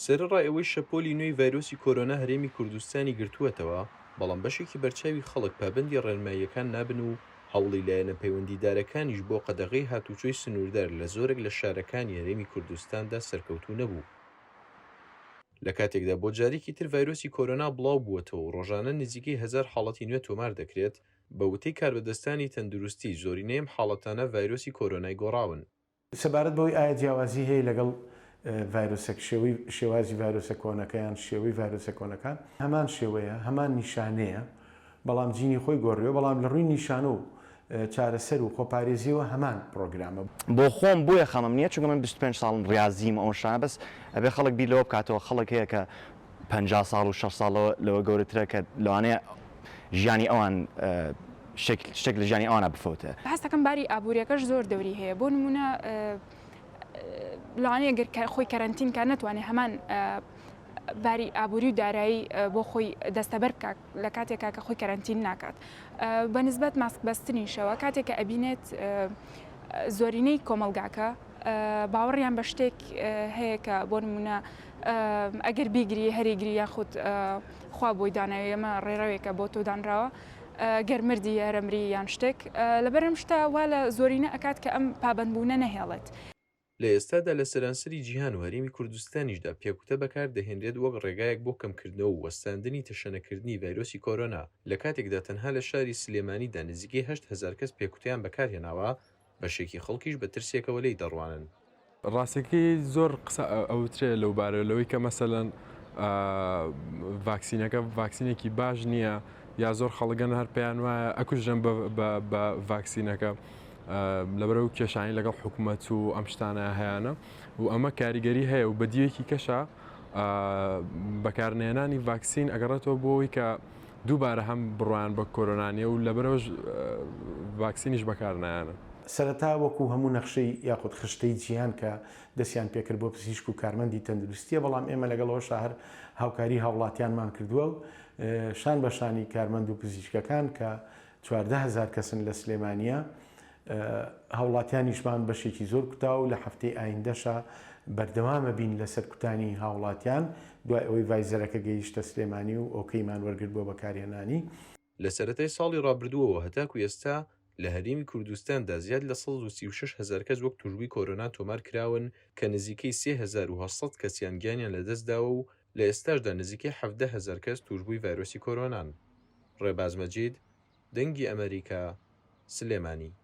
سەرەڕای ئەوەی شەپۆلی نوێی ڤایرۆسی کۆرۆنا هەرێمی کوردستانی گرتووەتەوە، بەڵام بەشێکی بەرچاوی خەڵک پابەندی ڕێنماییەکان نابن و هەوڵی لایەنە پەیوەندیدارەکانیش بۆ قەدەغەی هاتووچۆی سنووردار لە زۆرێک لە شارەکانی هەرێمی کوردستاندا سەرکەوتوو نەبوو. لە کاتێکدا بۆ جارێکی تر ڤایرۆسی کۆرۆنا بڵاوبووەتەوە و ڕۆژانە نزیکەی هەزار حاڵەتی نوێ تۆمار دەکرێت، بە وتەی کاربەدەستانی تەندروستی، زۆرینەی ئەم حاڵەتانە ڤایرۆسی کۆرۆنای گۆڕاون. سەبارەت بەوەی ئایا جیاوازی هەیە لەگەڵ ڤایرۆسە کشێوەی شێوازی ڤایرۆسە کۆنەکە یان شێوەی ڤایرۆسە کۆنەکان هەمان شێوەیە هەمان نیشانەیە بەڵام جینی خۆی گۆڕیوە بەڵام لە ڕووی نیشانە و چارەسەر و خۆپارێزیەوە هەمان پڕۆگرامە. بۆخۆم بۆیە خەمم نیە چونکە من بیست و پێنج ساڵم ڕازیم ئەوشتانە بەس ئەبێ خەڵک بیر لەوە بکاتەوە خەڵک هەیە کە پەنجا ساڵ و شەست ساڵ لەوە گەورەترە کە لەوانەیە ژیانی ئەوان شتێک لە ژیانی ئەوانە بفەوتێ هەستەکەم باری ئابوووریەکەش زۆر دەوری هەیە بۆ نمونە لەوانەیە گەر خۆی کەرەنتین کار نتوانێت هەمان باری ئابووری و دارایی بۆ خۆی دەستەبەر بکات لە کاتێکا کە خۆی کەرەنتین ناکات بە نسبەت ماسک بەستنیشەوە کاتێک کە ئەبینێت زۆرینەی کۆمەلگاکە باوەڕیان بە شتێک هەیە کە بۆ نمونە ئەگەر بیگری هەریگری یاخود خوا بۆی داناوی ئەمە ڕێڕەوێکە بۆ تۆدانراوە گەرمردی یارەمری یان شتێک لەبەرم شتا وا لە زۆرینە ئەکات کە ئەم پابندبوونە نەهێڵێت لە ئێستادا لە سەرانسەری جیهان و هەرێمی کوردستانیشدا پێکوتە بەکار دەهێنرێت وەک ڕێگایەک بۆ کەمکردنەوە و وەستاندنی تەشەنەکردنی ڤایرۆسی کۆرۆنا، لە کاتێکدا تەنها لە شاری سلێمانیدا نزیکەی هەشت هەزار کەس پێکوتەیان بەکار هێناوە، بەشێکی خەڵکیش بە ترسێکەوە لێی دەڕوانن. ڕاستەکەی زۆر قسە ئەوترێ لەو بارەوە، لەوەی کە مەسەلەن ڤاکسینەکە ڤاکسینێکی باش نییە یا زۆر خەڵک هەن هەر پێیان وایە ئەکوژرێن بە ڤاکسینەکە، لەبەر ئەو کێشانی لەگەڵ حکوومەت و ئەم شتانە هەیەە و ئەمە کاریگەری هەیە و بەدیەکی کەشە بەکارنێنانی ڤاکسین ئەگەڕێتەوە بۆەوەی کە دووبارە هەم بڕوان بە کۆرۆنانیە و لەبەرەوە ڤاکسینیش بەکارنایانە. سەرەتا وەکو هەموو نەخشەی یاخود خشتەی جیهان کە دەستیان پێکرد بۆ پزیشک و کارمەندی تەندروستییە بەڵام ئێمە لەگەڵ ئەوەشا هەر هاوکاری هاوڵاتیانمان کردووە و شان بە شانی کارمەند و پزیشکەکان کە چواردە هەزار کەسن لە سلێمانیە هاوڵاتیانیشمان بەشێکی زۆر کوتا و لە هەفتەی ئایندەشە بەردەوامە بین لە سەرکوتانی هاوڵاتیان دوای ئەوەی ڤایزەرەکە گەیشتە سلێمانی و ئۆکەیمان وەرگرت بۆ بەکارهێنانی. لە سەرەتای ساڵی ڕابردووەوە هەتاکو ئێستا لە هەرێمی کوردستاندا زیاد لە سەد و سی و شەش هەزار کەس وەک تووشبووی کۆرۆنا تۆمار کراون کە نزیکەی سێ هەزار و هەشت سەد کەسیان گیانیان لەدەستداوە و لە ئێستاشدا نزیکەی حەڤدە هەزار کەس تووشبووی ڤایرۆسی کۆرۆنان. ڕێباز مەجید، دەنگی ئەمەریکا، سلێمانی.